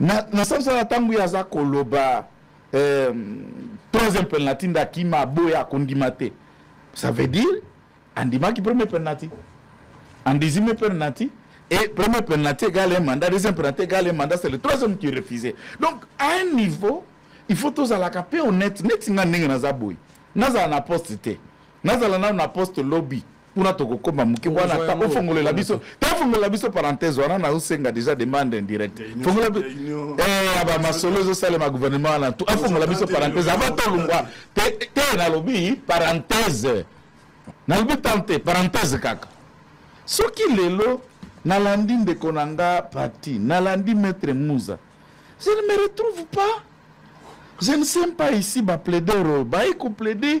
na, na sens wana ntango ye aza koloba eh, troisième penalty nde akima aboya akondima te ça veut dire andimaki premier penalty andizime penalty et premier penalty égale un mandat deuxième penalty égale un mandat c'est le troisième qui refusé donc à un niveau il faut tozalaka mpe honnête neti nga ndenge naza boye nazala na poste te nazala nano na poste lobi kuna tokokoma moke wana ta ofongolela biso ta ofongolela biso parenthèse wana na osenga déjà demande indirecte fongola eh ba masolo ezo salema gouvernement wana tout afongola biso parenthèse avant to lungwa te te na lobi parenthèse na lobi tante parenthèse kaka soki lelo nalandi ndeko na nga parti nalandi maître muza je ne me retrouve pas je ne sais pas ici ba plaider baye ko plaider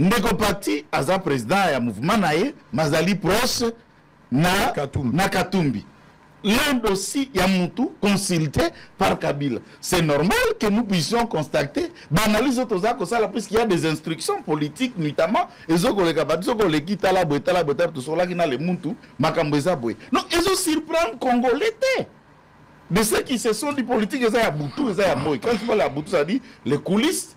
ndeko pati aza président ya mouvement na ye mazali proche na katumbi, na katumbi. l'un dossier ya mutu consulté par kabila c'est normal que nous puissions constater baanalyse oyo toza kosala puisqu'il y a des instructions politiques notamment ezokoleka bato ezokoleki tala boye tala boye tala tosolaki na le mutu makambo eza boye non ezosurprendre congolais te de ceux qui se sont dit politique eza ya butu eza ya moi quand tu parle ya butu ça dit les coulisses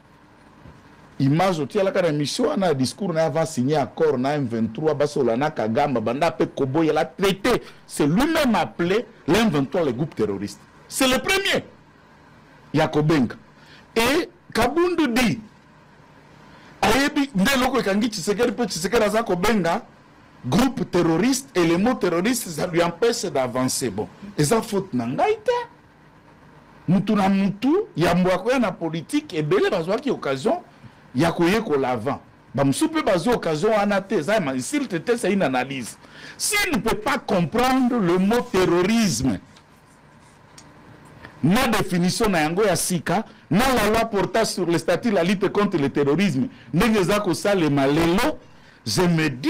image otialaka na émission wana ya discours na ye avant signe accord na m23 basola na kagamba banda mpe koboya la traité c'est lui-même appelé le m23 le groupe terroriste c'est le premier ya kobenga et kabundu di ayebi nde eloko ekangi tshisekedi mpe tshisekedi aza kobenga groupe terroriste et le mot terroriste ça lui empêche d'avancer bon eza faute na ngai te mutu na mutu yambo ya koya na politike ebele bazwaki occasion ya koyekola avant bamosusu mpe bazwi occasion wana te eza ma insulte te c'est une analyse s'il ne peut pas comprendre le mot terrorisme na définition na yango ya sika na la loi portant sur le statut la lutte contre le terrorisme ndenge eza kosalema lelo je me dis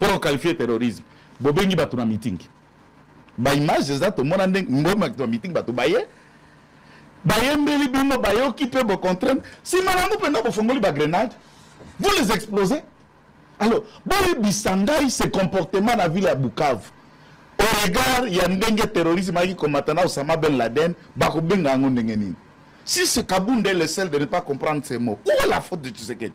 pona ko qualifier terrorisme bobengi bato na meeting ba image eza tomona ndenge mbomaki na meeting bato baye bayembeli bino bayoki mpe bocontrainte nsima nango mpenza bofongoli bagrenade vous les explosez alors boyebisa ngai ce comportement na ville ya bukavu au regard ya ndenge terrorisme ayaki komata na osama ben laden bakobenga yango ndenge nini si ce kabunde le seul de ne pas comprendre ces mots où est la faute de tshisekedi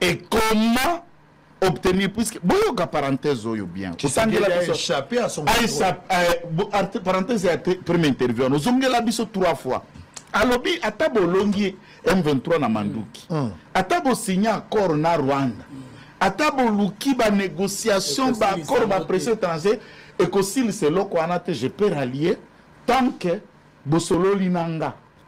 et comment obtenir puisque boyoka parenthèse oyo bien otangela biso échappé à son aisa euh, parenthèse ya premier interview ozongela biso trois fois alobi ata bolongi M23 na manduki mm. ata bosigne accord na Rwanda ata boluki ba négociation ba accord ba pression étranger ekosilisa eloko wana te je peux rallier tant que bosololi na nga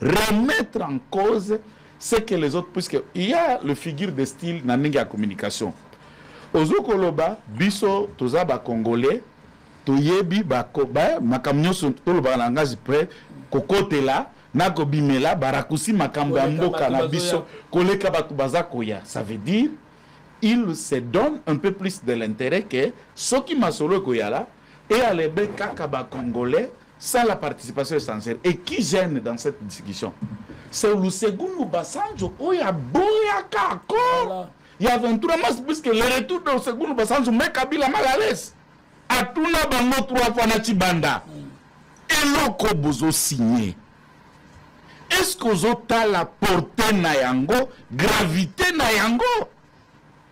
remettre en cause ce que les autres puisque il y a le figure de style na ndenge ya communication ozo koloba biso toza ba congolais toyebi makambo nyonso tolobaka na langage pre kokotela na kobimela barakusi makambo ya mboka na biso koleka bato baza koya ça veut dire il se donne un peu plus de l'intérêt que soki masolo ekoyala et à l'ebe kaka ba congolais sans la participation essentielle et qui gêne dans cette discussion c'est Olusegun Basanjo oyo aboyaka accord il y a 23 mars puisque le retour de Olusegun Basanjo met Kabila mal à l'aise atuna bango trois fois na Tshibanda eloko bozo signer est-ce qu'ozotala porte na yango gravité na yango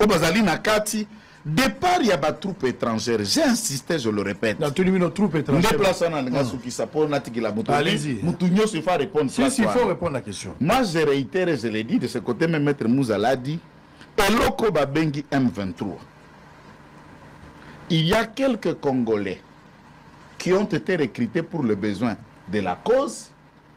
oyo bazali na kati départ ya batroupe étrangère j'ai insisté je le répète natuni bino troupe étrangère nde place wana alinga asukisa mpo natikela moto moto nyonso il faut répondre si, si, il faut répondre la question moi je réitère je l'ai dit de ce côté même maître muzala dit eloko babengi m23 il y a quelques congolais qui ont été recrutés pour le besoin de la cause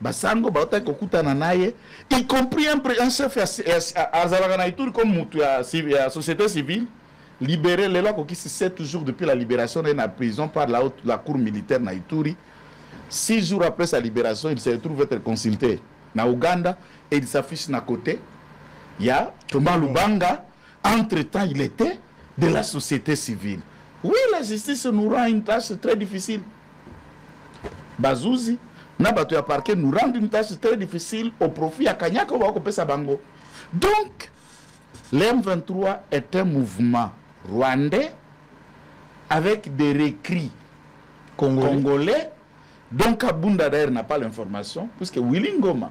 basango bautaki kokutana na ye y compris un chef azalaka na ituri comme motu ya société civile libéré lelo akokisi 7 jours depuis la libération na ye na prison par la, haute, la cour militaire na ituri 6 jours après sa libération il se retrouve être consulté na ouganda et il s'affiche na côté ya thomas lubanga entre temps il était de la société civile oui la justice nous rend une tâche très difficile bazuzi na bato ya parquet nous rendre une tâche très difficile au profit ya kanyaka oyo bakopesa bango donc le m23 est un mouvement rwandais avec des recris congolais, congolais. donc abunda d'ailleurs n'a pas l'information puisque willy ngoma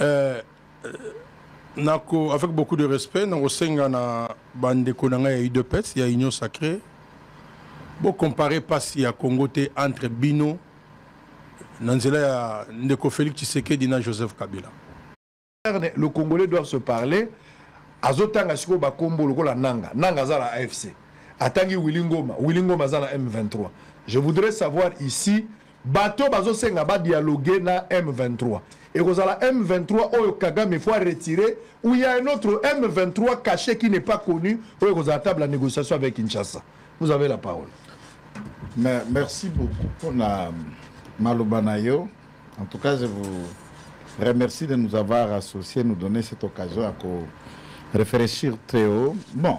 Euh, nako avec beaucoup de respect nakosenga na bandeko na ngai ya udps ya union sacré bocompare mpasi ya congo te entre bino na nzela ya ndeko félix tshisekedi na joseph kabila le congolais doit se parler azotanga sikoyo bakombo lokola nanga nanga aza na afc atangi willi ngoma willi ngoma aza na m23 je voudrais savoir ici bato bazosenga ba dialogue na M23 ekozala M23 oyo Kagame faut retirer ou il y a un autre M23 caché qui n'est pas connu oyo ekozala table ya négociation avec Kinshasa vous avez la parole Mais, merci beaucoup pour la maloba na yo en tout cas je vous remercie de nous avoir associés nous donner cette occasion à réfléchir très haut bon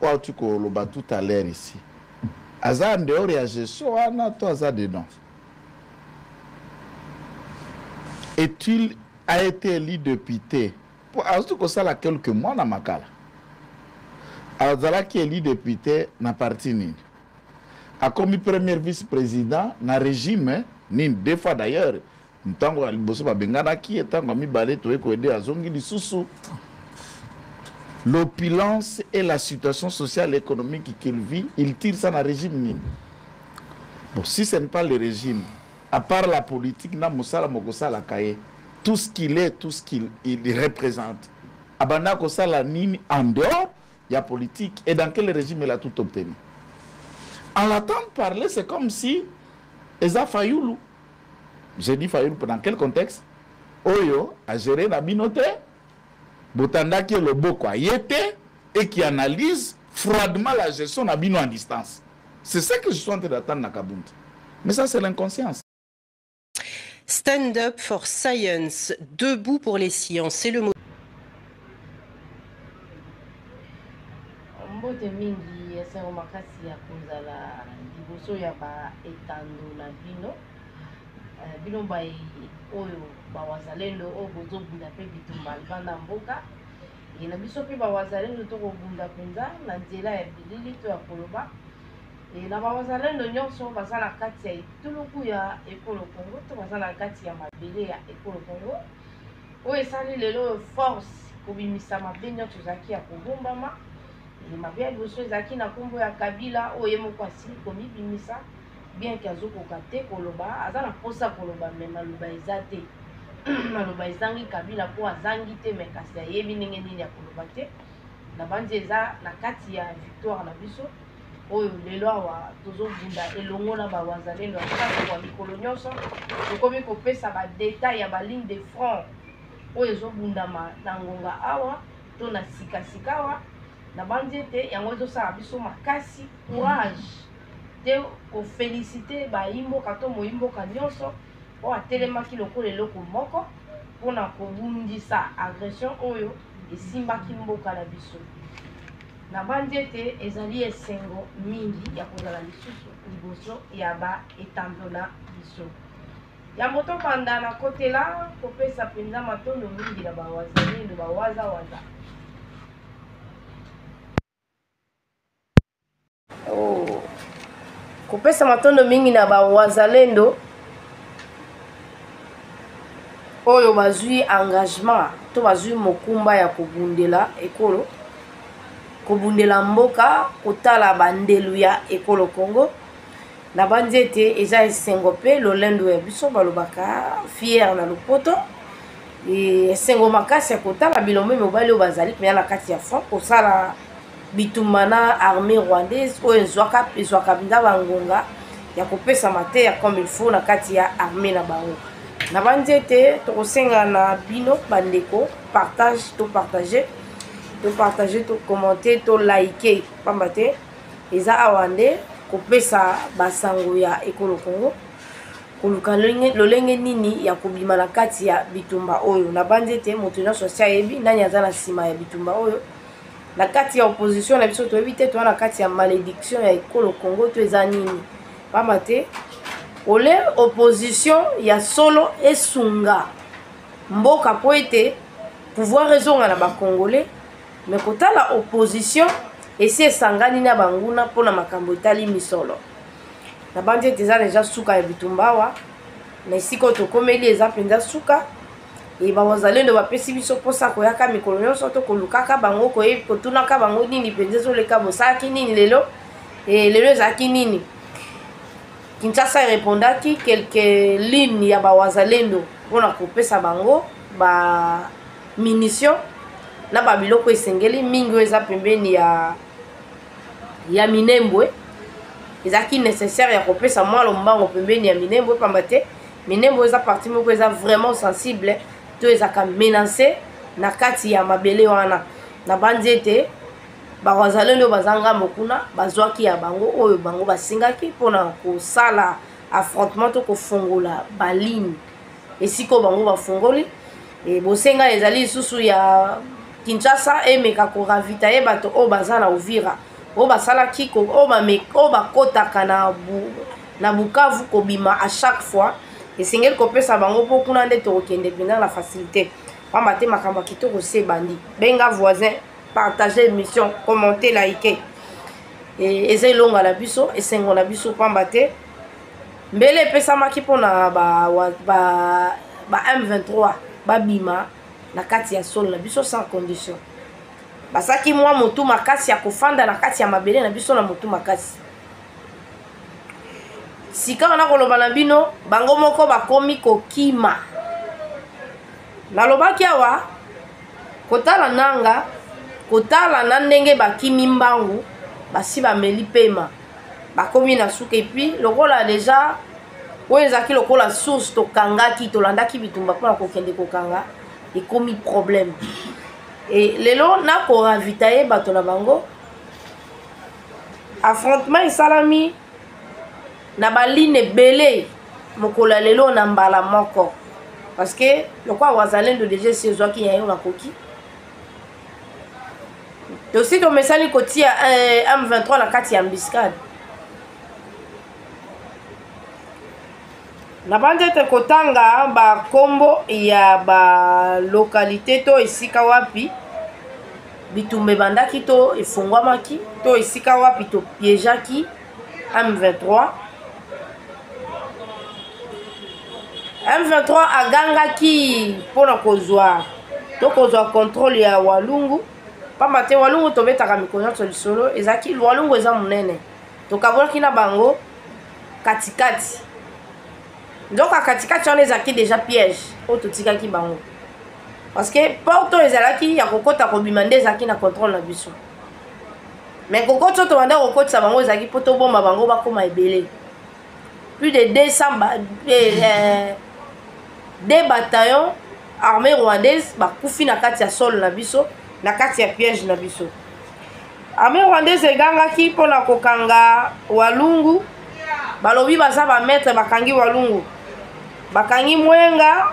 oyo auti koloba tout à l'heure ici aza en dehors ya gestion wana to aza dedans est-il a été élu député mpo azali kosala quelques mois na makala azalaki élu député na parti nini akomi premier vice-président na régime nini deux fois d'ailleurs ntango ya liboso babenganaki ye ntango ya mibale toye koyede azongi lisusu l'opulence et la situation sociale et économique qu'il vit il tire ça na régime nini bon si ce n'est pas le régime à part la politique na mosala mokosalaka ye tout ce qu'il est tout ce qu'il il représente abanda kosala nini en dehors ya politique et dans quel régime il a tout obtenu en l'attente parler c'est comme si eza fayulu J'ai dit Fayulu dans quel contexte Oyo a géré na bino te Botandaki loboko aye te et qui analyse froidement la gestion na bino en distance. C'est ça que je suis en train d'attendre na Kabund. Mais ça c'est l'inconscience. Stand up for science, debout pour les sciences, c'est le mot. Mbote mingi esengo makasi ya kozala liboso ya ba etando na bino eh, bino baye oyo bawazalendo oyo bozobunda mpe bitumba libanda mboka ye na biso mpe bawazalendo tokobunda mpenza na nzela ya bilili to ya koloba e na bawazalendo nyonso baza na kati ya etuluku ya ekolo congo to baza na kati ya mabele ya ekolo congo oyo esali lelo oyo force kobimisa mabe nyonso ezalaki ya kobombama mabe ya liboso ezalaki na nkombo ya kabila oyo ye moko asili komibimisa bien ke azokoka te koloba aza na mposa koloba me maloba eza te maloba ezangi kabila mpo azangi te me kasi ayebi ndenge nini ya koloba te nabanzi eza na kati ya victoire na biso oyo lelo awa tozobunda elongo na bawazalendo ya sasa kwa mikolo nyonso tokomi kopesa badetail ya baligne de front oyo ezobundama na ngonga awa to na sikasika awa nabanzi ete yango ezosala biso makasi courage te kofelisite bayimboka to moyimboka nyonso oyo atelemaki lokola eloko moko mpona kobundisa agression oyo esimbaki mboka na biso Nabanzi ete ezali esengo mingi ya kozala lisusu liboso ya baetando na biso. Yambo tobanda na kotela kopesa mpenza matondo mingi na bawazalendo bawazawaza oh. kopesa matondo mingi na bawazalendo oyo bazwi engagement to bazwi mokumba ya kobundela ekolo kobundela mboka kotala ba ndelu ya ekolo Congo nabanzi ete eza esengo mpe lolendo ya biso balobaka fiere na lopoto esengo makasi ya kotala bilombe mibali oyo bazali mpenza na kati ya front kosala bitumba na armée rwandaise oyo ezwaka ezwaka mpenza bangonga ya kopesa mateya comme il faut na kati ya armée na bango nabanzi ete tokosenga na bino bandeko partage to partage to partage to commente to like pamba te eza awa nde kopesa basango ya ekolo congo koluka lolenge nini ya kobima na kati ya bitumba oyo nabanzi ete moto nyonso asi ayebi nani aza na nsima ya bitumba oyo na kati ya opposition na biso toyebi te toza na kati ya malédiction ya ekolo congo to eza nini pamba te ole opposition ya solo esunga mboka mpo ete pouvoir ezonga na bacongolais me kotala opposition esi esangani na banguna mpo na makambo etali misolo nabanzi ete eza deja suka ya bitumba awa na esika oyo tokomeli eza mpenza suka e bawazalendo bapesi biso mposa koyaka mikolo nyonso to kolukaka bango koyebi kotunaka bango nini mpenza ezoleka bosalaki nini lelo e lelo ezalaki nini Kinshasa erepondaki quelques lignes ya ba Wazalendo mpo na kopesa bango ba munitions na ba biloko esengeli mingi oyo eza pembeni ya ya Minembwe ezalaki nécessaire ya kopesa mwa lombango pembeni ya Minembwe pamba te Minembwe eza partie moko eza vraiment sensible to ezaka menacée na kati ya mabele wana nabanzi ete bawazalendo baza ngambo kuna bazwaki ya bango oyo bango basengaki mpona kosala affrontement to kofongola baligne esika oyo bango bafongoli e, bosenga ezali lisusu ya kinshasa emeka koravitaye bato oyo baza na ovira oyo basalaki oyo bakotaka na, bu, na bukavu kobima à chaque fois esengeli kopesa bango mpo kuna nde tokokende mpenza na facilité pamba te makambo ya kitoko se ebandi benga voisin partager émission commenter like e, eza elonga na biso esengo na biso pamba te mbele epesamaki mpona ba, ba, ba m23 babima na kati ya solo na biso sans condition basaki mwa motu makasi ya kofanda na kati ya mabele na biso na motu makasi sikawa nakoloba na bino bango moko bakomi kokima nalobaki awa kotala nanga kotala na ndenge bakimi mbangu basi bameli pema bakomi na suka epuis lokola deja oyo ezalaki lokola source tokangaki tolandaki bitumba mpona kokende kokanga ekomi problème e lelo nakoravitaye bato na bango affrontement esalami na baline ebele mokolo ya lelo na mbala moko parce que lokola wazalendo deja esi ezwaki ya yo makoki tosi tomesani kotia eh, m23 na kati ya mbiscade nabanzi ete kotanga bakombo ya balokalite to esika wapi bitumba ebandaki to efungwamaki to esika wapi topiejaki M23 M23 agangaki mpo na kozwa to kozwa contrôle ya walungu mpamba te walungu tobetaka mikolo nyonso lisolo ezalaki walungu eza monene tokabolaki na bango katikati nzoka katikati wana ezalaki deja piège oyo totikaki bango parce que porte oyo ezalaki ya kokota kobima nde ezalaki na contrôle na biso mais kokotisa tobanda kokotisa bango ezalaki mpo tobomba bango bakóma ebele plus de 200 ba, eh, eh, des bataillons armée rwandaise bakufi na kati ya solo na biso na kati ya piège na biso armée rwandaise egangaki mpo na kokanga walungu balobi baza bamaître bakangi walungu bakangi mwenga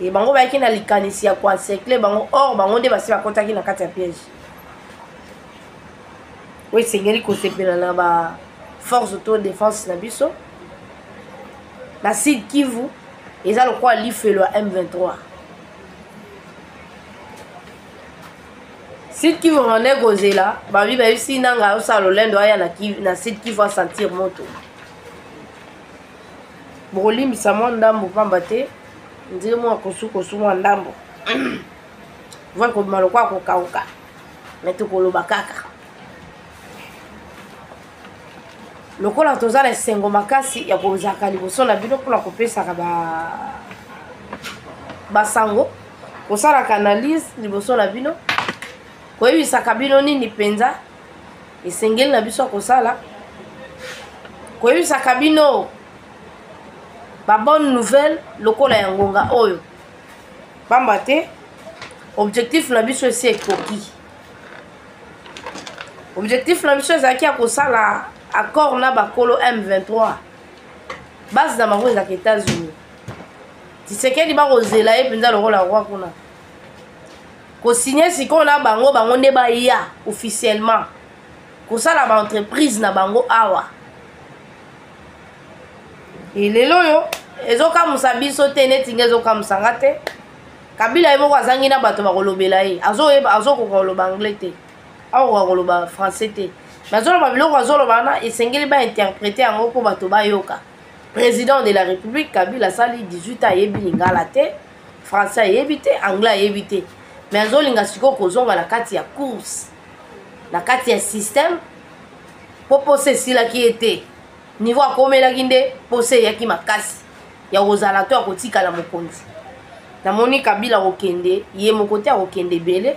e bango bayaki na likanisi ya koencercle bango or bango nde basi bakotaki na kati ya piège oyo esengeli kosepela na ba force auto défense na biso na sud kivu eza lokola lifelo ya m23 sud kivu rwanda ekozela babi bayebisi nanga osala lolendo aya na sud kivu asentir moto bokolimbisa mwa ndambo pamba te ndire mwa kosukosu mwa ndambo voi kobima lokola kokauka me tokoloba kaka lokola toza na esengo makasi ya kozalaka liboso na bino mpona kopesaka basango ba kosalaka analyse liboso na bino koyebisaka bino nini mpenza esengeli na biso ya kosala koyebisaka bino ba bonne nouvelle lokola ya ngonga oyo pamba te objectif na biso esi ekoki objectif na biso ezalaki ya kosala accord na bakolo m23 base na bango ezalaka états-unis tisekedi bakozela ye mpenza lokola roi kuna kosigne sikoyo na bango bango nde baya officiellement kosala baentreprise na bango awa lelo oyo ezokamusa biso te neti nge ezokamusa nga te kabila ye moko azangi na bato bakolobela ye azokoka koloba anglais te akokoka koloba français te me azoloba biloko azoloba wana esengeli bainterprete yango mpo bato bayoka président de la république kabila asali 18 ans ayebi lingala te français ayebi te anglais ayebi te me azolinga sikoyo kozonga na kati ya course na kati ya système mpo posa esilaki ye te niveau akomelaki nde posa eyaki makasi ya kozala to ya kotikala mokonzi namoni kabila akokende ye moko te akokende ebele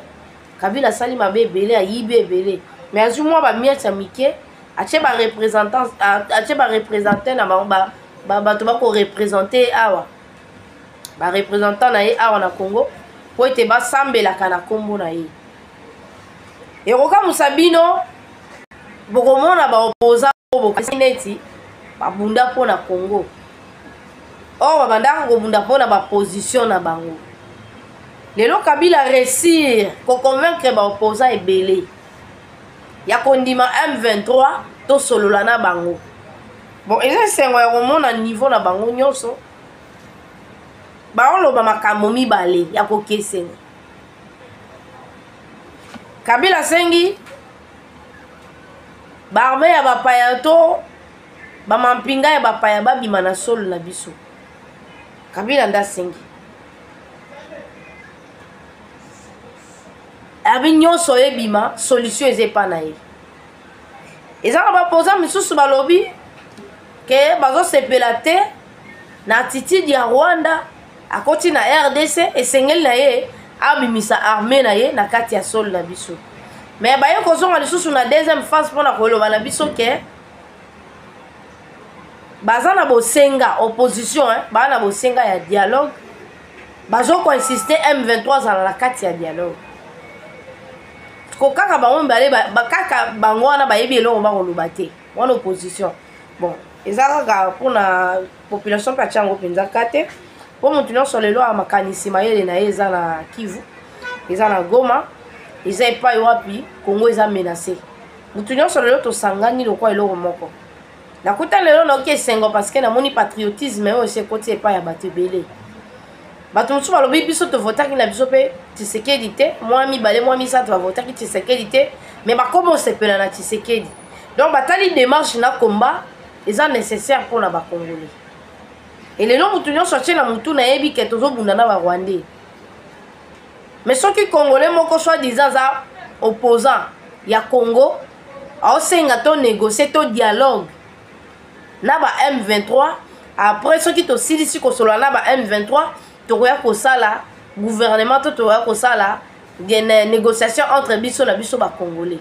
kabila asali mabe ebele ayibi ebele me azwi mwa bamiete ya mike atie barepresentant atie barepresentant na bango bato bakorepresente ye awa barepresentant na ye awa na congo mpo ete basambelaka na nkombo na ye ekokamusa bino bokomona baopoza oyo bokasi neti babunda mpo na congo or babandaka kobunda mpo na baposition na bango lelo kabila resir koconvaincre baopoza ebele ya kondima m23 tosolola na bango bon eza esengo ya komona niveau na bango nyonso baoloba makambo mibale ya kokesena kabila asengi baarme ya bapaya to bamampinga ya bapaya babima na solo na biso kabila nde asengi abi nyonso oyo ebima solution eza epa na ye eza na bapoza mosusu balobi ke bazosepela te na attitude ya rwanda akoti na rdc esengeli na ye abimisa arme na ye na kati ya solo na biso me baye kozonga lisusu na deuxième phase mpo na koloba na biso ke baza na bosenga opposition eh, baza na bosenga ya dialogue bazokoinsiste m23 azala na kati ya dialogue ko kaka bango mibale kaka bango wana bayebi eloko bakoloba te wana opposition bon eza kaka mpona population mpe atya yango mpenza kate mpo moto nyonso lelo ya makanisi mayele na ye eza na kivu eza na goma eza epai wapi kongo eza menase moto nyonso lelo tosangani lokola eloko moko nakuta lelo nayoki esengo parceke namoni patriotisme oyo esi ekoti epai ya bato ebele bato mosusu balobi biso tovotaki na biso mpe tisekedi te mwa mibale mwa misato bavotaki tisekedi te me bakoma osepela na tisekedi donc batali demarche na combat eza nécessaire mpo na bacongolais elelo motu nyonso atie na motu nayebi ke tozobunda na barwandais mais soki congolais moko soit disant aza opposant ya congo aosenga to négocie to dialogue na ba m23 après soki tosilisi kosolola na ba m23 tokoya kosala gouvernement to tokoya kosala négociation entre biso na biso bacongolais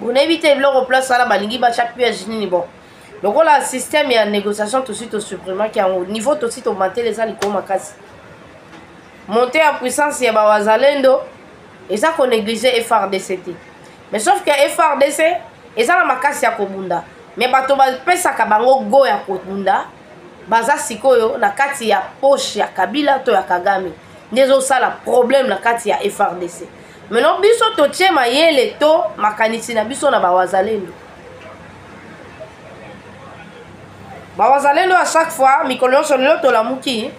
bonayebi te biloko place wana balingi batya piège nini bon lokola système ya négociation tosi tosupprimaki yango niveau tosi tomantele eza likolo makasi monte ya puissance ya bawazalendo eza konéglige frdc te mais sauf que frdc eza na makasi ya kobunda mais bato bapesaka bango go ya kobunda baza sikoyo na kati ya poche ya kabila to ya kagame nde ezosala problème na kati ya frdc maintenant biso totie mayele to makanisi na biso na bawazalendo bawazalendo ya chaque fois mikolo nyonso lelo tolamuki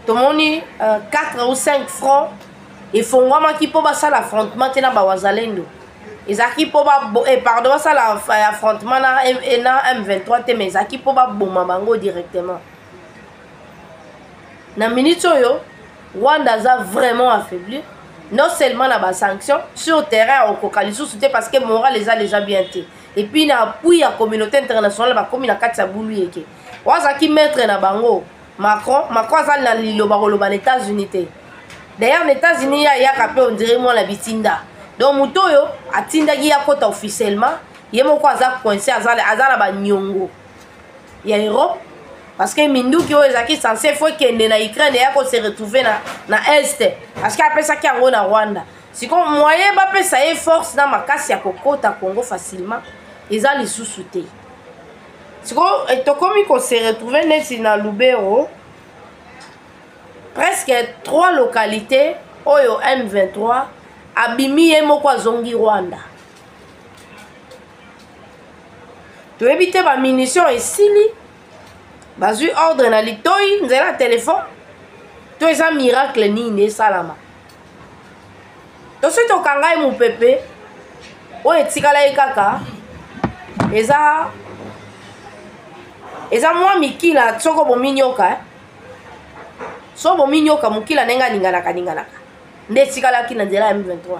tomoni uh, 4 ou 5 francs efongwamaki mpo basala affrontement te na bawazalendo ezalaki mpo eh, pardon basala eh, affrontement na, eh, na m23 te mais ezalaki mpo baboma bango directement na minute oyo rwanda aza vraiment affaiblir non seulement na basanction sur terrain okoka lisusu te parce que moral eza déjà bien te epuis na appui ya communauté internationale bakomi na kati ya bulu yeke oyo azalaki maître na bango macron macron aza na liloba koloba na états-unis te d'ailleurs na états-unis ye ayaka mpe ondire mwana bitinda donc moto oyo atindaki ye akota officiellement ye moko aza coince aza na banyongo ya europe parce que minduki oyo ezalaki sense fo ekende na ukraine eya ko se retrouver na, na est parce que apesaki yango na rwanda sikoyo moyen bapesa ye force na makasi ya kokota congo facilement eza lisusu te sikoyo eh, tokomi kose retrouve neti na lubero presque trois localité oyo m23 abimi ye moko azongi rwanda toyebi te bamunition esili bazwi ordre na litoi nzela ya telefone to eza miracle nini esalama tosi tokanga ye mopepe oyo etikala ye kaka eza eza mwa mikila soko bominyoka eh? so bominyoka mokila ndenge aninganaka ninganaka nde etikalaki na nzela ya m23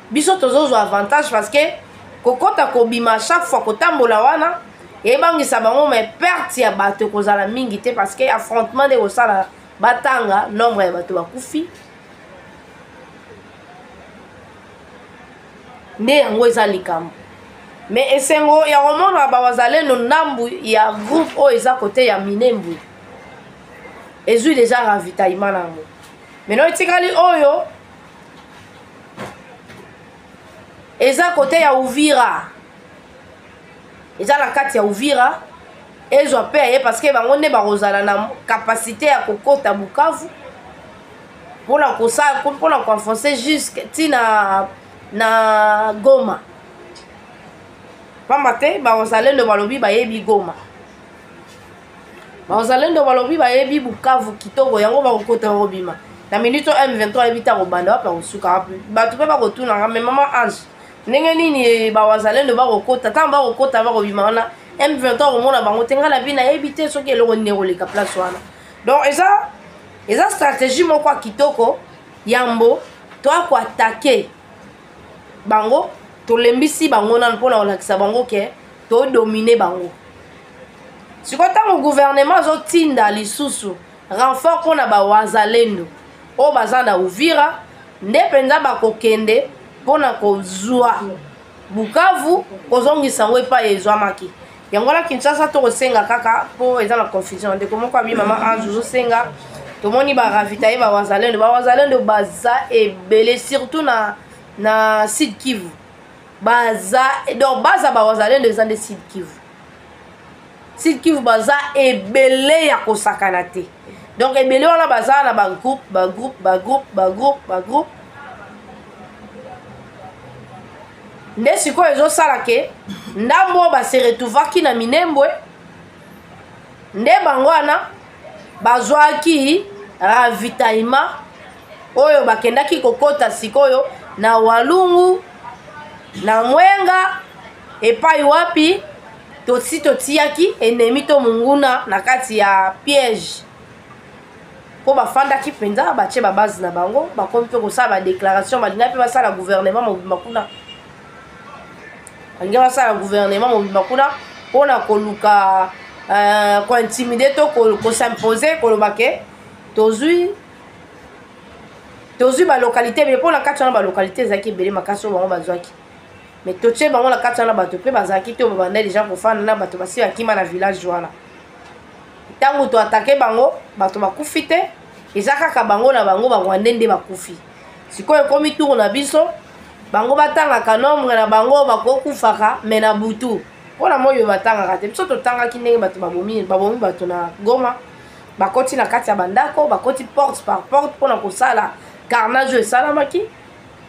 biso tozozwa avantage parce que kokɔta kobima chaque fois kotambola wana ebangisa bango mai perte ya bato ekozala mingi te parce que affrontement nde ekosala batanga nombre ya bato bakufi nde yango eza likambo me esengo ya komona bawazalendo ndambu ya groupe oyo eza kote ya minembwe ezwi deja ravitaillement na yango meno etikali oyo eza kote ya uvira eza na kati ya uvira ezwa mpe aye parceke bango nde bakozala na kapasite ya kokota bukavu mpona kosala mpona koenfonce juske ti na na goma mpamba te baozalendo balobi bayebi goma bazalendo balobi bayebi bukavu kitoko yango bakokota bakobima na minute oyo m23 ayebi te akobanda wapi akosuka wapi bato mpe bakotunaka me mama ange ndenge nini eh, bawazalendo bakokota ntango bakokota bakobima wana m23 akomona bango te ngai na bi nayebi te soki eloko nini ekoleka place wana donc eza eza stratégie moko ya kitoko yambo toya koatake bango tolembisi bango nano mpo na kolakisa bango ke todomine bango sikoyo ntango guvernema azotinda lisusu renfort mpo na bawazalendo oyo baza na uvira nde mpenza bakokende mpo na kozwa bukavu kozongisa yango epai ezwamaki yango wana kinshasa tokosenga kaka mpo eza na confusion ndeko moko abi mama ange ozosenga tomoni baravitaye bawazalendo bawazalendo baza ebele surtout na, na sud kivu baza donc baza bawazalendo eza nde sud kivu sud kivu baza ebele ya kosakana te donc ebele wana baza na bagroupe bagroupe bagroupe bagroupe bagroupe nde sikoyo ezosala ke ndambo oyo baseretuvaki na minembwe nde bango wana bazwaki ravitaillement oyo bakendaki kokota sikoyo na walungu na mwenga epai wapi tosi totiyaki enemi to monguna na kati ya piège mpo bafandaki mpenza batye babazi na bango bakomi mpe kosala badeklaration balingaki mpe basala gouvernement mobimba kuna balingaki basala gouvernement mobimba kuna mpo na koluka euh, kointimide to kosimpose koloba ke tozwi tozwi balokalité ebele mpo na kati wana balokalité ezalaki ebele makasi oyo bango bazwaki me totie bango na kati wana bato mpe bazalaki te babanda deja kofanda na bato basi bakima na village wana ntango toatake bango bato bakufi te eza kaka bango na bango barwande nde bakufi sikoyo ekomi tour na biso bango batangaka nombre na bango bakokufaka me na butu mpo na moyo batangaka te biso totangaki ndenge bato babomi babomi bato na goma bakoti na kati ya bandako bakoti porte par porte mpo na kosala carnage oyo esalamaki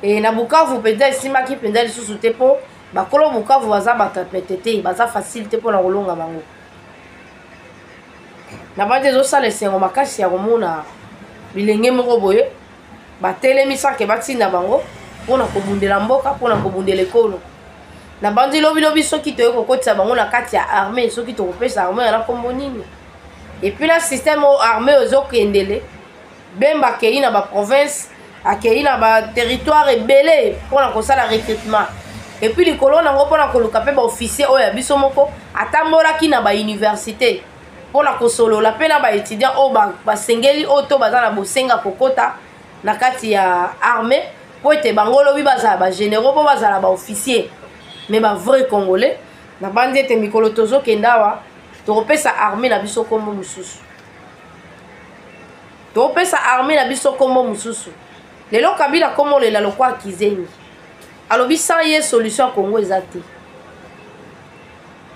e, na bukavu mpenza esimbaki mpenza lisusu te mpo bakolo bukavu baza bato ya pete te baza facile te mpo na kolonga bango na bandi ezosala esengo makasi ya komona bilenge moko boye batelemi sake batinda bango mpo na kobundela mboka mpo na kobundela ekolo na bandi lobilobi soki toyei kokotisa bango na kati ya armée soki tokopesa armée yana nkombo nini epuis na système oyo armée oyo ezokendele bemba akei na baprovince akei na baterritoire ebele mpo na kosala recrutement epuis likolo nango mpo na koluka mpe baofficier oyo ya biso moko atambolaki na bauniversité mpo na kosolola mpe na baétudiant oyo basengeli oyo to baza na bosenga kokota na kati ya armée mpo ete bango lobi bazala bagénéraux mpo bazala baofficier mais bavrai congolais nabandi ete mikolo tozokenda awa tokopesa armée na biso nkombo mosusu topesa arme na biso kombo mosusu lelo kabila komolela lokwa kizengi alobi sans ye solution ya congo eza te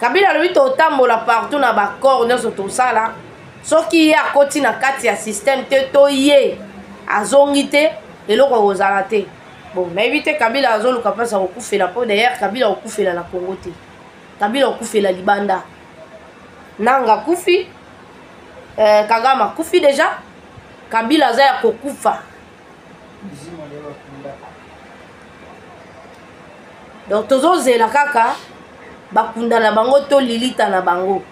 kabila alobi totambola partout na baccord nyonso tosala soki ye akoti na kati ya systeme te to ye azongi te eloko ekozala te bon nayebi te kabila azoluka mpasi ya kokufela mpo dayere kabila akokufela na congo te kabila akokufela libanda nanga kufi eh, kagame akufi deja kabila aza ya kokufa donc tozozela kaka bakunda na bango to lilita na bango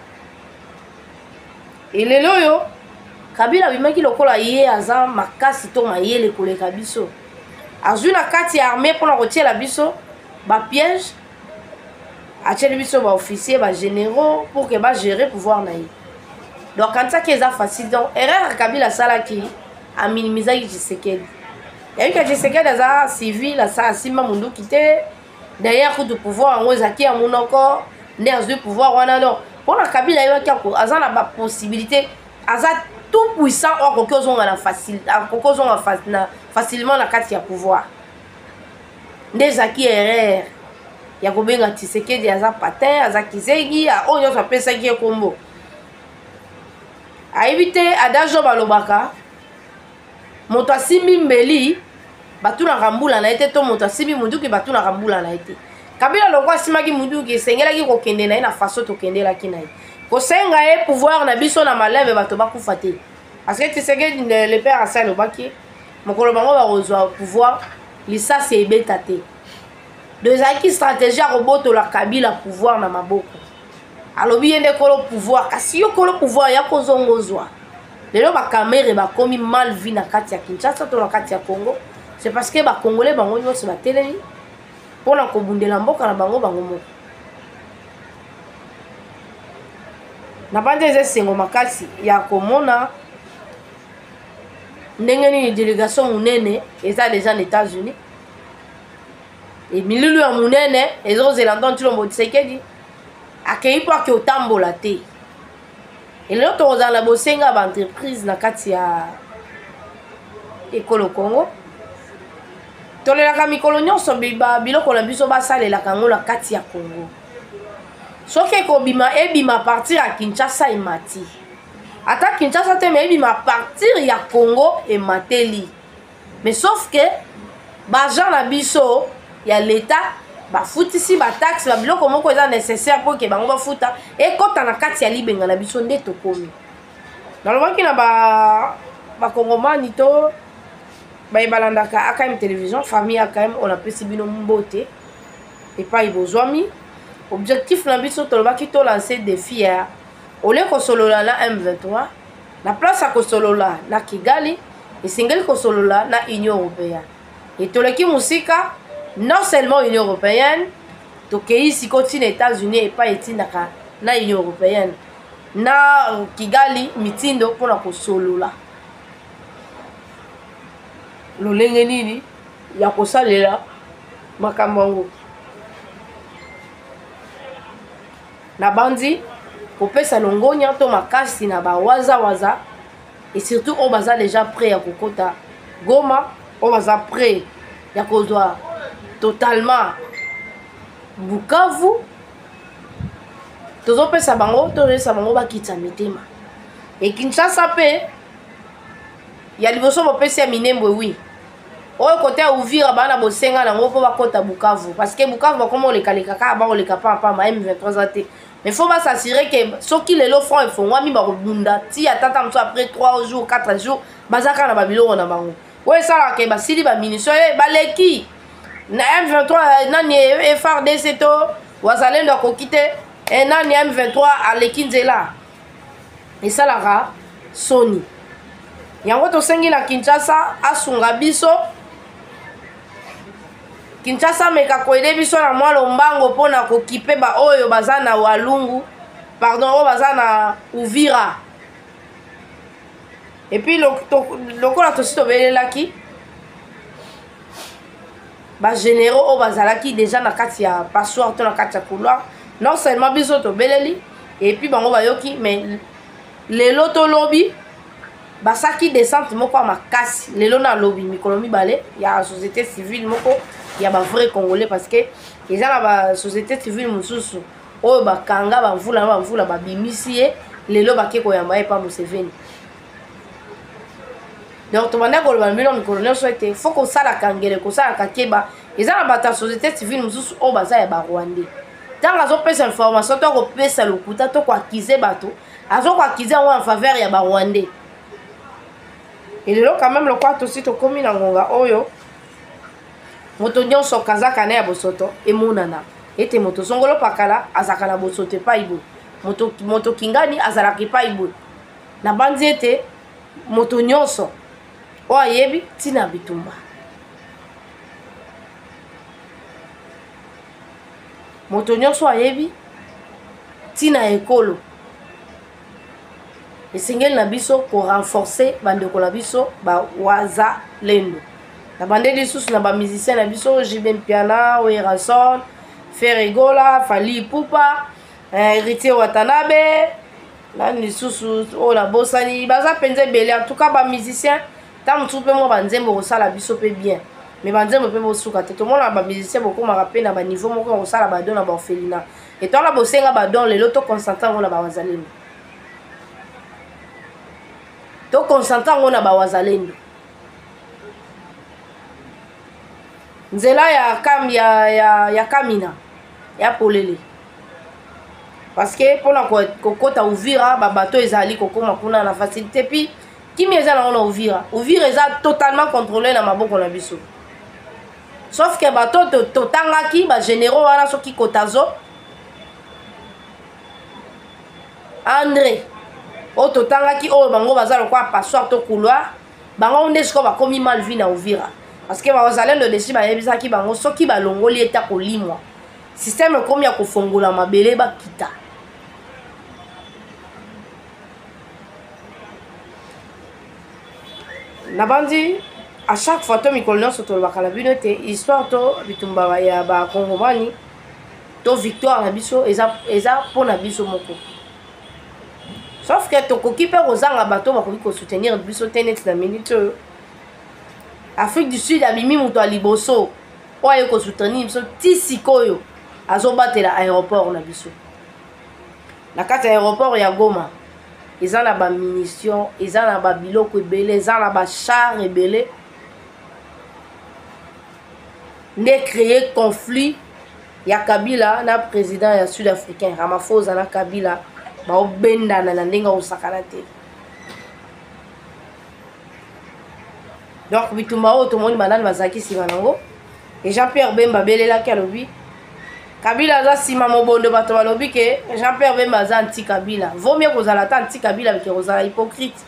elelo oyo kabila abimaki lokola ye aza makasi to mayele koleka biso azwi na kati ya arme mpona kotiela biso bapiège atieli biso baofficier bagénéraux pour ke bagere pouvoir na ye donc kanisaki eza facile donc erreur ya kabila asalaki aminimisaki tshisekedi yayoki ya tshisekedi aza civil asa asimba monduki te derrière kutu pouvoir yango ezalaki ya monoko nde azwi pouvoir wana donc mpo na kabila ayebaki aza na bapossibilité aza tout puissant oyo akoki ozonga na facilement na kati ya pouvoir nde ezalaki erreur ya kobenga tisekedi aza patin aza kizengi oyo nyonso apesaki ye kombo ayebi te ada job alobaka moto asimbi mbeli batunaka mbula na ye te to moto asimbi munduki batunaka mbula na ye te kabila longo asimaki munduki esengelaki kokende na ye na faso tokendelaki na ye kosenga ye pouvoir na biso na maleme bato bakufa te parce que tisekedi le père asali obaki mokolo bango bakozwa pouvoir lisasi ebeta te do ezalaki stratégie ya kobotola kabila pouvoir na maboko alobi ye nde kolo pouvoir kasi yo kolo pouvoir ya kozonga ozwa lelo bakamere bakomi mal vie na kati ya kinshasa to na kati ya congo c'est parce que bacongolais bango nyonso batelemi mpo na kobundela mboka na bango bango moko na banda eza esengo makasi ya komona ndenge nini delegation monene eza deja na états-unis emililu ya monene ezozela ntango tshilombo tshisekedi akei mpo ake otambola te elelo tokozala na bosenga ya baentreprise na kati ya ekolo congo tolelaka mikolo nyonso biloko na biso basalelaka yango na kati ya congo soki ekobima ebima partir ya kinshasa emati ata kinshasa te mais ebima partir ya congo emateli mais sauf que baagent na biso ya leta bafutisi bataxe babiloko moko eza nécessaire mpo ke bango bafuta ekɔta na kati ya libenga na biso nde tokomi nalobaki na bakongomani ba to baye balandaka akm télévision famille akm oyo napesi bino mbote epai bozwami objectif na biso tolobaki tolanse défi ya olie kosolola na m23 na place ya kosolola na kigali esengeli kosolola na union européenne e toleki mosika non seulement union européenne tokei sikoyo ntina états-unis epai etindaka na union européenne na kigali mitindo mpo na kosolola lolenge nini ya kosalela makambo yango Nabanzi kopesa longonya to makasi na ba waza waza et surtout oyo baza deja près ya kokota Goma oyo baza près ya kozwa totalement Bukavu tozopesa bango tozopesa bango bakitisa mitema e Kinshasa mpe ya liboso bopesi ya Minembwe wi oyo kote ya uvira baa na bosenga nango mpo bakɔta bukavu parce que bukavu bakoma olekaleka kaka bakoleka pampama m23 za te mais faut basasire ke soki lelo front efongwami bakobunda ti ata ta mosusu après 3 jours 4 jours baza kaka na babiloko na bango oyo esalaka ke basili bamunition e eh, baleki na m23 eh, nani eh, frdc to wazalendo akoki te nani m23 aleki nzela esalaka soni yango tosengi na kinshasa asunga biso kinshasa ameka koyede biso na mwa lombango mpo na kokipe baoyo baza na walungu pardon oyo baza na uvira epuis lokola tosi tobelelaki bagénéraux oyo bazalaki déjà na kati ya passoire to na kati ya couloir non seulement biso tobeleli epuis bango bayoki mais lelo to lobi basaki descente moko ya makasi lelo na lobi mikolo mibale ya société civile moko ya bavrai congolais parce que eza na basociété civile mosusu oyo bakanga bamvula na bamvula babimisi ye lelo bake koyamba ye epa museveni donc tobanda koloba na bino mikolo nyonso ete fo kosalaka ngele kosalaka keba eza na bato ya société civile mosusu oyo baza ya barwandais ntango azopesa information to akopesa lokuta to koakize bato azokoakize yango en faveur ya barwandais elelo quand même lokola tosi tokomi na ngonga oyo moto nyonso kazaka na ya bosoto emonana ete moto zongolo pakala azalaka na bosoto epai boye moto kingani azalaka epai boye nabanzi ete moto nyonso oyo ayebi ntina ya bitumba moto nyonso ayebi ntina ya ekolo esengeli na biso korenforce bandeko na biso bawaza lendo na bande lisusu na bamusicien na biso jb mpiana werason ferregola fali pupa eh, héritier watanabe nani lisusu oyo oh, nabosani baza mpenza ebele en tout cas bamusicien ntango mosusu mpe mwa banzembo kosala biso mpe bien mais banzembo mpe bosuka te tomonaka bamusicien bokomaka mpe na baniveau moko ya kosala badon na baorphelina etwala bosenga badon lelo toconcentre yango na bawazalendo toconcentre yango na bawazalendo nzela ya, kam, ya, ya, ya kamina ya polele parce que mpona kokota uvira babato ezali kokoma kuna na facilité puis kimia eza nango na uvira uvira eza totalement contrôlé na maboko na biso sauf que bato totangaki bagénéraux wana soki kotazo andre oyo totangaki oyo bango baza lokola passoire to couloir bango nde sikoyo bakomi mal vie na uvira parce que bazalendo desi bayebisaki bango soki balongoli ete akolimwa système ekomi ya kofongola mabele bakita nabandi à chaque fois to mikolo nyonso tolobaka na bino ete histoire to bitumba ya bakongomani to victoire na biso eza, eza mpo na biso moko sauf ke tokoki mpe kozanga bato bakoki kosoutenir biso te neti na minute oyo afrique du sud abimi moto ya liboso oyo aye kosoutenir biso ti sikoyo azobatela aéroport na biso na kati ya aéroport ya goma eza na bamunition eza na babiloko ebele eza na bachar ebele nde créer conflit ya kabila na président ya sud africain ramafosa na kabila baobendana na ndenge akosakana te donc bitumba oyo tomoni banani bazalaki nsima nango e jean pierre bemba abelelaki alobi kabila aza nsima mobondo bato balobi ke jean pierre bemba aza anti kabila vaut mieux kozala ata anti kabila bike kozala hypocrite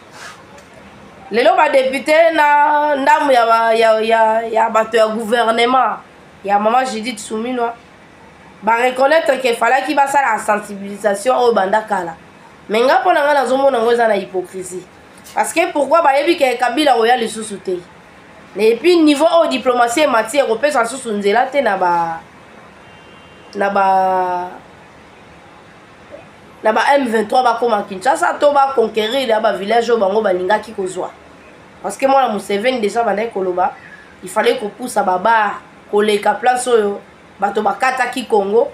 lelo badepute na ndambo ya, ba, ya, ya, ya bato ya gouvernement ya mama judith suminwa bareconnaitre ke falaki basala sensibilisation oyo banda kala me nga mpo na ngai nazomona yango eza na hypocrisie parce que pourquoi bayebi ke kabila akoya lisusu te et puis niveau oyo diplomatie emati ekopesa lisusu nzela te na ba na ba na ba m23 bakóma kinshasa to baconquérir ya bavillage oyo bango balingaki kozwa parce que mwana museveni deja bandaki koloba il fallait kopusa babar koleka place oyo bato bakataki congo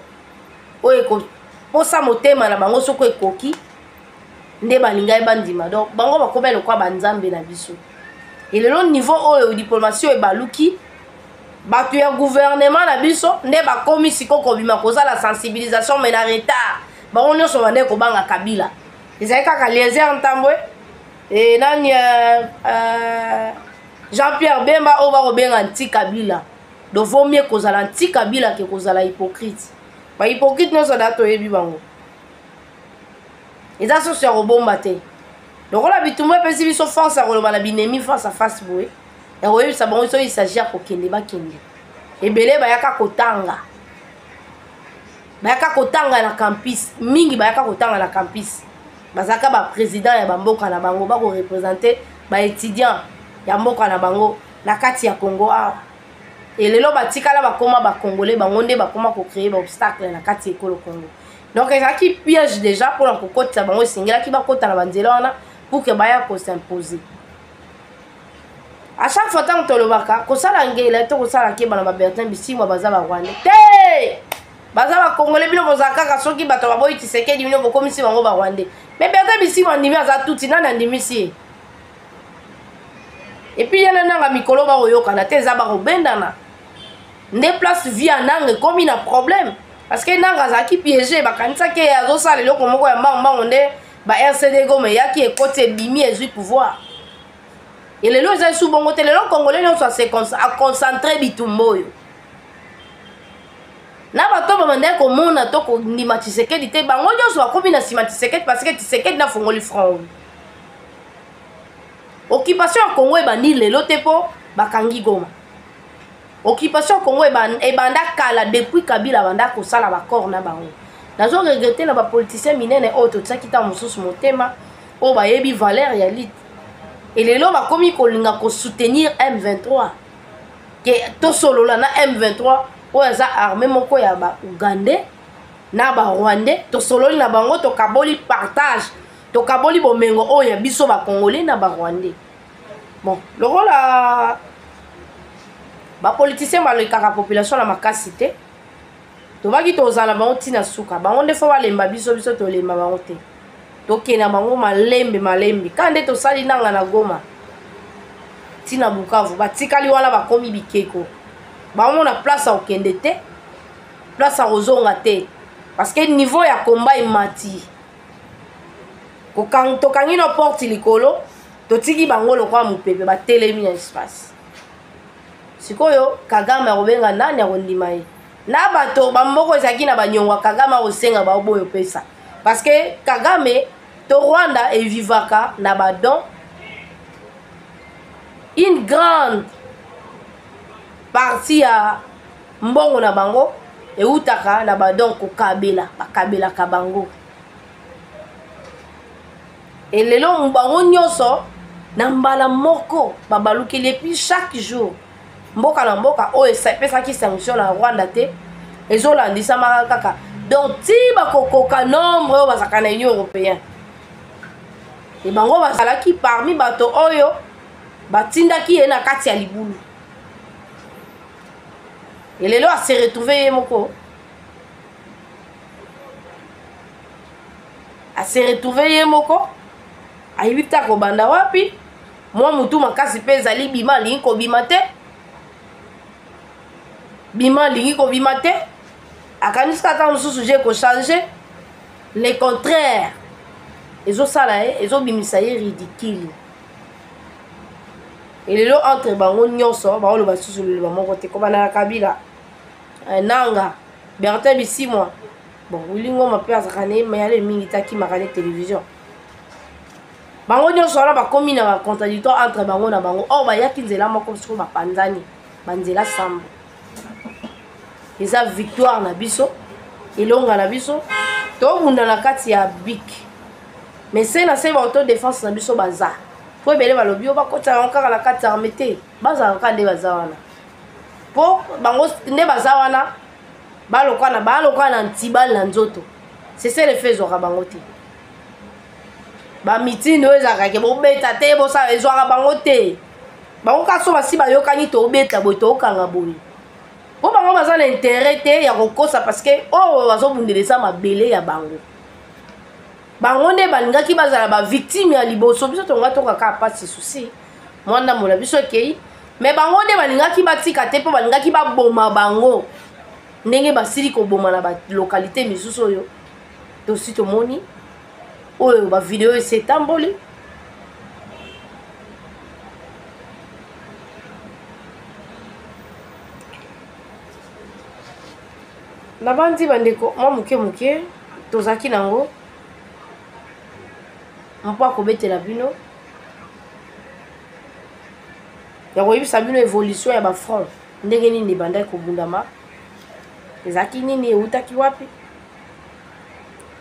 oyo ekoposa motema na bango soko ekoki nde balingaki bandima donc bango bakomai lokwa banzambe na biso elelo niveau oyo diplomatie oyo ebaluki bato ya guvernema na biso nde bakomi siko kobima kozala sensibilisation mai na retard bango nyonso bandai kobanga kabila ezali kaka lieser ntambwe e nani uh, uh, jean pierre bemba oyo bakobenga nti kabila do vaut mieux kozala nti kabila ke kozala hypocrite bahypocrite nyonso da toyebi bango eza soso ya kobomba te lokola bitumba epesi biso force ya koloba na binemi face à face boye ya koyebisa bango soki isagi ya kokende bakende ebele bayaka kotanga bayaka kotanga na campus mingi bayaka kotanga na campus bazalaka baprésident ya bamboka na bango bakorepresente baétudiant ya mboka na bango na kati ya congo awa elelo batikala bakoma bacongolais bango nde bakoma kocreye baobstacle na kati ya ekolo congo donc ezalaki piège déjà mpo na kokotisa bango esengelaki bakota na banzela wana pour ke baya kosimpose à chaque fois ntango tolobaka kosala ngela to kosala keba na babertin bisimwa baza barwande te baza bakongole bino bozala kaka soki bato baboyi kisekedi bino bokomisi bango barwande me bertin bisimwa andimi aza tuti nani andimisi ye epuis ye na nanga mikolo bakoyokana te eza bakobendana nde place vie ya nanga ekomi na problème parce que nanga azalaki piége bakanisaki ye azosala eloko moko ya mbango mbango nde ba rcd goma eyaki ekoti ebimi ezwi pouvoir elelo eza esu bongo te lelo congolais nyonso aconcentre bitumba oyo na bato oyo babandaki komona to kondima tisekedi te bango nyonso bakomi na nsima tisekedi parce que tisekedi nafongoli front oyo occupation ya congo ebandi lelo te mpo bakangi goma occupation congo ebanda kala depuis kabila abanda kosala baccord na bango nazo regrete na bapoliticien minene oyo totiaki ntango mosusu motema oyo bayebi valeur ya lite elelo bakomi kolinga kosoutenir m23 ke tosolola na m23 oyo aza arme moko ya baougandais na barwandais tosololi na bango tokaboli partage tokaboli bomengo oyo ya biso bacongolais na barwandais bon lokola bapoliticien balekaka population na makasi te tobaki tozala bango ntina suka bango nde fo balemba biso biso tolemba bango te tokenda bango malembe malembe kaka nde tosali nanga na goma ntina bukavu batikali wana bakomi bikeko bango na place ya kokende te place ya kozonga te parce que niveau ya combat emati tokangi no porte likolo totiki bango lokola mopepe batelemi na espace sikoyo kagame akobenga nani akondima ye na bato bamboko ezalaki na banyongo ya kagame akosenga bango boyo pesa parce que kagame to rwanda evivaka na badon une grande partie ya mbongo na bango ewutaka na badon kokabela bakabelaka bango elelo bango nyonso na mbala moko babalukeli epuis chaque jour mboka na mboka oyo epesaki sanction na rwanda te ezolandisamaka kaka donc ti bakokoka nombre oyo bazalaka na union européen e bango bazalaki parmi bato oyo batindaki ye na kati ya libulu e lelo ase retrouve ye moko ase retrouve ye moko ayebi te akobanda wapi mwa motu makasi mpe ezali bima alingi kobima te bima alingi kobima te akanisi kaka mosusu je kochange le contraire ezosala ye ezobimisa ye ridicule lelo entre bango nyonso baoloba susu liloba moko te kobanda na kabila eh, nanga bertin bisimwa bon wili ngoma mpe azalaka na ye mayale mingi te akimaka ne télévision bango nyonso wana bakomi na bacontradictoire entre bango na bango or bayaki nzela moko soko bapanzani banzela sambo eza victoire na biso elonga na biso tobunda na kati ya bik mais se na se baauto défense na biso baza mpo ebele balobi yo bakotisa yango kaka na kati ya arme te bazala kaka nde baza wana mpo bango nde baza wana balokwana balokwana na ntibali na nzoto seselefe ezwaka bango te bamitini oyo ezalaka ke bobeta te bosala ezwaka bango te bango kaka so basi bayokani tobeta boye tokanga boye mpo bango baza na interet te ya kokosa parceke oyo oh, bazobundela eza mabele ya bango bango nde balingaki bazala bavictime ya liboso biso tonga tokaka mpasi susi mwa ndambo na biso ekei me bango nde balingaki batika te mpo balingaki baboma bango ndenge basili koboma na balokalite misusu oyo tosi tomoni oyo bavideo esi etamboli nabandi bandeko mwa moke moke tozalaki nango mpo akobetela bino ya koyebisa bino évolution ya bafront ndenge nini ebandaki kobundama ezalaki nini ewutaki wapi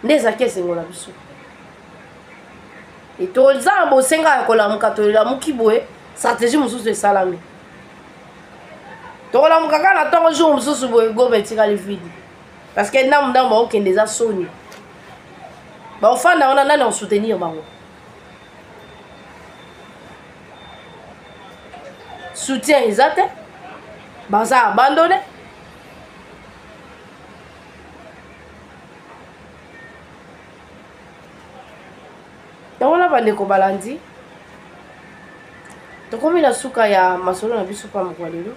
nde ezalaki esengo na biso toza na bosenga ya kolamuka tolamuki boye stratégie mosusu esalami tokolamuka kaka na ntongo jour mosusu boye goma etikali vidi parce que ndambu ndambu bakokende eza soni baofanda wana nani akosoutenir bango soutien eza te baza abandone yango na bandeko balandi tokomi na suka ya masolo na biso mpa mokwa lelo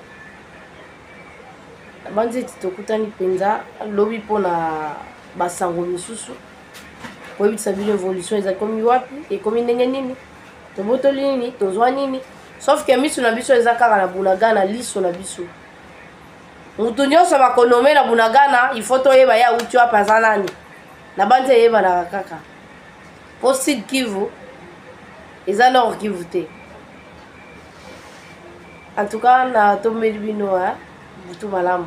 nabanzi ete tokutani mpenza lobi mpo na basango misusu koyebisa bino évolution eza ekomi wapi ekomi ndenge nini tobotoli nini tozwa nini sauf ke miso na biso eza kaka na bunagana liso na biso moto nyonso bakonome na bunagana ifo toyeba ye auti wapi aza nani nabanzi eyebanaka kaka mpo sud kivu eza nord kivu te en tout cas natombeli bino butu malamu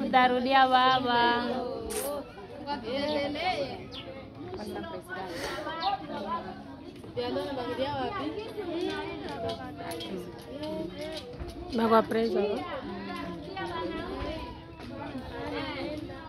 Utarudia baba. Bagua preso.